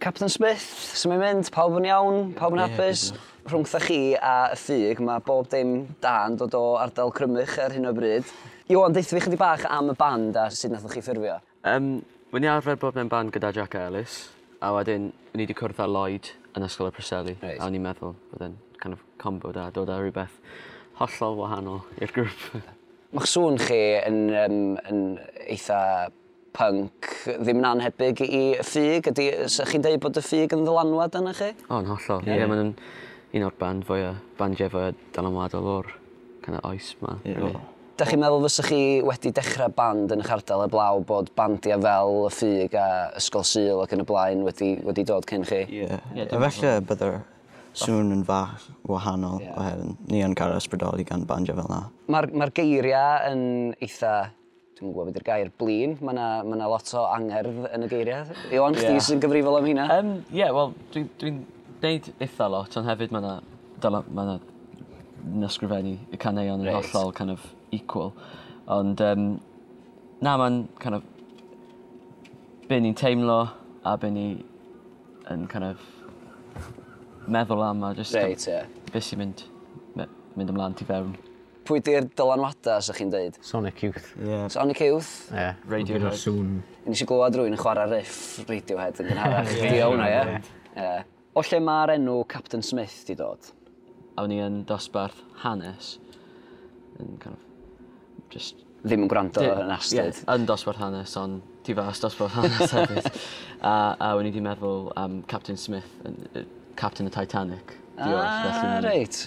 Capten Smith, su' mae'n mynd? Pawb yn iawn? Pawb yn hapus? Ie, diolch. Rhwngthoch chi a y ffug, mae bob dim da yn dod o ardal Crymych ar hyn o bryd. Iwan, deutha fi chydig bach am y band a sut nathoch chi ffurfio? Yym, wi 'di arfer bod mewn band gyda Jac a Elis, a wedyn o'n i 'di cwrdd â Lloyd yn Ysgol y Preseli. Reit. A o'n i'n meddwl bod e'n kind of combo da, dod â rhywbeth hollol wahanol i'r grŵp. Ma'ch sŵn chi yn yym yn eitha pync ddim yn annhebyg i ffug. Ydy, sa chi'n deud bod y ffug yn ddylanwad arna chi? O, yn hollol. Ie, yeah, mae'n un o'r band fwya, bandiau fwya dylanwadol o'r kind of oes ma. Yeah. Really. Da chi'n meddwl fysa chi wedi dechrau band yn eich ardal eblaw bod bandiau fel y ffug a Ysgol Sul ac yn y blaen wedi, wedi dod cyn chi? Ie. Yeah. Yeah, Efallai byddai'r sŵn yn fach wahanol yeah. oherwydd ni yn cael ysbrydoli gan bandiau fel yna. Mae'r ma geiriau yn eitha Dwi'm yn gwybod be 'di'r gair, blin. Mae yna ma na lot o angerdd yn y geiriau. Iwan, chdi yeah. sy'n gyfrifol am hynna. Um, Ie, yeah, wel, dwi'n dwi, deud eitha lot, ond hefyd mae yna... Mae yna nasgrifennu y caneuon yn right. hollol kind of equal. Ond, um, na, mae'n kind of... Be ni'n teimlo a be ni yn kind of meddwl am a just... Right, ie. Yeah. Be sy'n mynd, mynd ymlaen ti fewn. Pwy di'r dylanwada sa chi'n deud? Sonic Youth. Ie. Sonic Youth. Ie. Radio Rhyw sŵn. Nes i glywed rwy'n yn chwarae riff Radiohead yn gynharach. Ie. Di o hwnna, ie? Ie. O lle mae'r enw Captain Smith di dod? Awn ni yn dosbarth hanes. Yn kind of, just... Ddim yn gwrando yn astud. Ie, yn dosbarth hanes, ond ti fas dosbarth hanes hefyd. a, a o'n i di meddwl am Captain Smith, Captain y Titanic. Ah, reit.